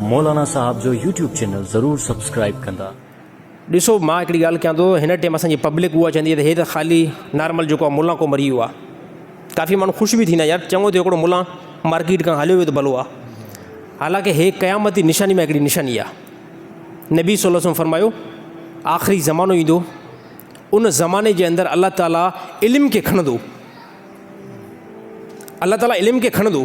مولانا صاحب جو YouTube channel ضرور سبسڪرائيب ڪندا. ڏسو مان هڪڙي ڳالهه ڪيان ٿو هن ٽيم اسان جي پبلڪ اها چوندي ته هي ته خالي نارمل جيڪو آ ملان ڪو مري ويو آ ڪافي ماڻهو خوش به ٿيندا آهن يار چڱو ٿيو هڪڙو ملان مارڪيٽ کان هليو ويو ته ڀلو آ حالانڪه هي قيامت جي نشاني مان هڪڙي نشاني آ نبي صلي وسلم فرمايو آخري زمانو ايندو ان زماني جي اندر الله تعالي علم کي کنندو الله تعالي علم کي کڻندو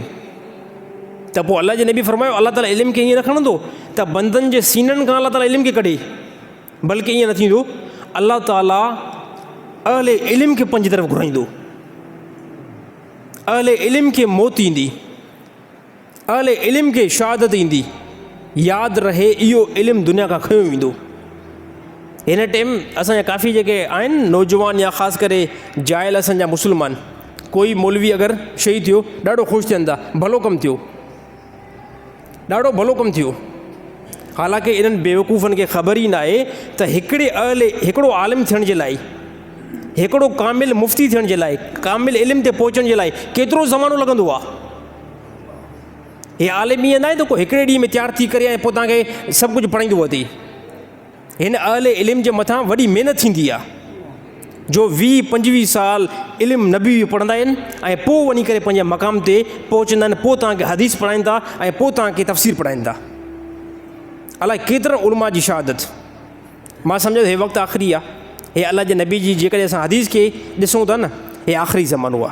ته پوء الله جي نبي فرمايو الله تعالي علم کي ائين نه کڻندو ته بندن جي سينن کان الله تعالي علم کي ڪڍي بلڪه ائين نه ٿيندو الله تعالي اهل علم کي پنج طرف گهرائيندو اهل علم کي موت ايندي اهل علم کي شهادت ايندي. ياد رهي اهو علم دنيا کان کنيو ويندو. هن ٽيم اسان جا ڪافي جيڪي آهن نوجوان يا خاص ڪري جاهل اسان جا مسلمان ڪوئي مولوي اگر شهيد ٿيو ڏاڍو خوش ٿين ٿا ڀلو ڪم ٿيو ڏاڍو ڀلو ڪم ٿيو حالانڪه انهن بيوقوفن کي خبر ئي ناهي ته هڪڙي اهل هڪڙو عالم ٿيڻ جي لاء هڪڙو ڪامل مفتي ٿيڻ جي لاء ڪامل علم تي پهچڻ جي لاء ڪيترو زمانو لڳندو آهي هي عالم ائين ناهي ته ڪو هڪڙي ڏينهن ۾ تيار ٿي ڪري ۽ پوء توهان کي سڀ ڪجهه پڙهائيندو اٿئي هن اهل علم جي مٿان وڏي محنت ٿيندي آهي جو ويهه پنجويهه سال علم نبي بي پڙهندا آهن ۽ پوء وڃي ڪري پنهنجي مقام تي پهچندا آهن پوء توهان کي حديث پڙهائين ٿا ۽ پوء توهان کي تفسير پڙهائين ٿا الاء ڪيترن علماء جي شهادت ماں سمجھا هي وقت آخري آ هي الله جي نبي جي جيڪڏهن اسان حديث کي ڏسون ٿا نه هي آخري زمانو آ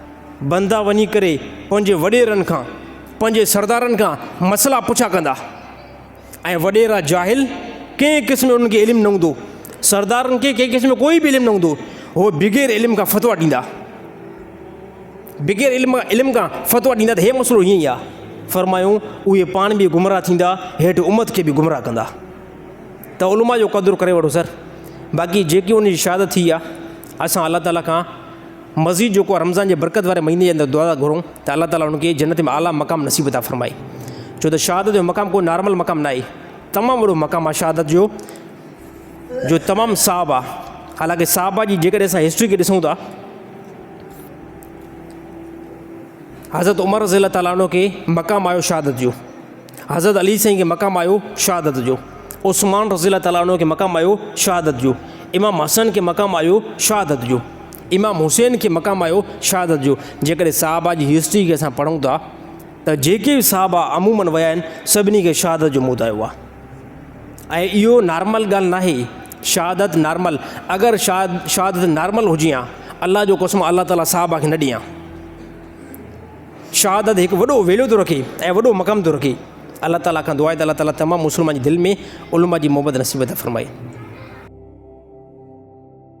بندا وڃي ڪري پنهنجي وڏيرن کان، پنهنجي سردارن کان مسئلا پڇا ڪندا ۽ وڏيرا جاهل ڪنهن قسم جو انهن کي علم نه هوندو، سردارن کي ڪنهن قسم جو ڪوئي به علم نه هوندو، هو بغير علم کان فتويٰ ڏيندا، بغير علم علم کان فتويٰ ڏيندا ته هي مسئلو هيئن ئي آهي، فرمايون اهي پاڻ به گمراهه ٿيندا هيٺ امت کي به گمراهه ڪندا. ته علماء جو قدر ڪري وٺو سر باقي جيڪي ان جي شهادت ٿي آهي اسان الله تعالٰي کان مزيد جو ڪو رمضان جي برڪت واري مهيني جي اندر دعا ٿا گهرون ته الله تعاليٰ ان کي جنت ۾ اعليٰ مقام نصيب عطا فرمائي ڇو ته شهادت جو مقام ڪو نارمل مقام نه آهي تمام وڏو مقام آهي شهادت جو جو تمام صاحب آهي حالانڪه صاحبه جي جيڪڏهن اسان هسٽري کي ڏسون ٿا حضرت عمر رضي الله تعاليٰ عنه کي مقام آيو شهادت جو حضرت علي سائين کي مقام آيو شهادت جو عثمان رضي الله تعاليٰ عنه کي مقام آيو شهادت جو امام حسن کي مقام آيو شهادت جو امام حسين کي مقام آيو شهادت جو. جيڪڏهن صحابه جي هسٽري کي اسان پڙهون ٿا ته جيڪي به صحابه عمومن ويا آهن سڀني کي شهادت جو موت آيو آهي ۽ اهو نارمل ڳالهه ناهي شهادت نارمل اگر شهادت نارمل هجي هان الله جو قسم الله تعالي صحابه کي نه ڏي هان شهادت هڪ وڏو ويليو ٿو رکي ۽ وڏو مقام ٿو رکي الله تعالي کان دعا آهي ته الله تعالي تمام مسلمان جي دل ۾ علماء جي محبت نصيب ٿا فرمائي.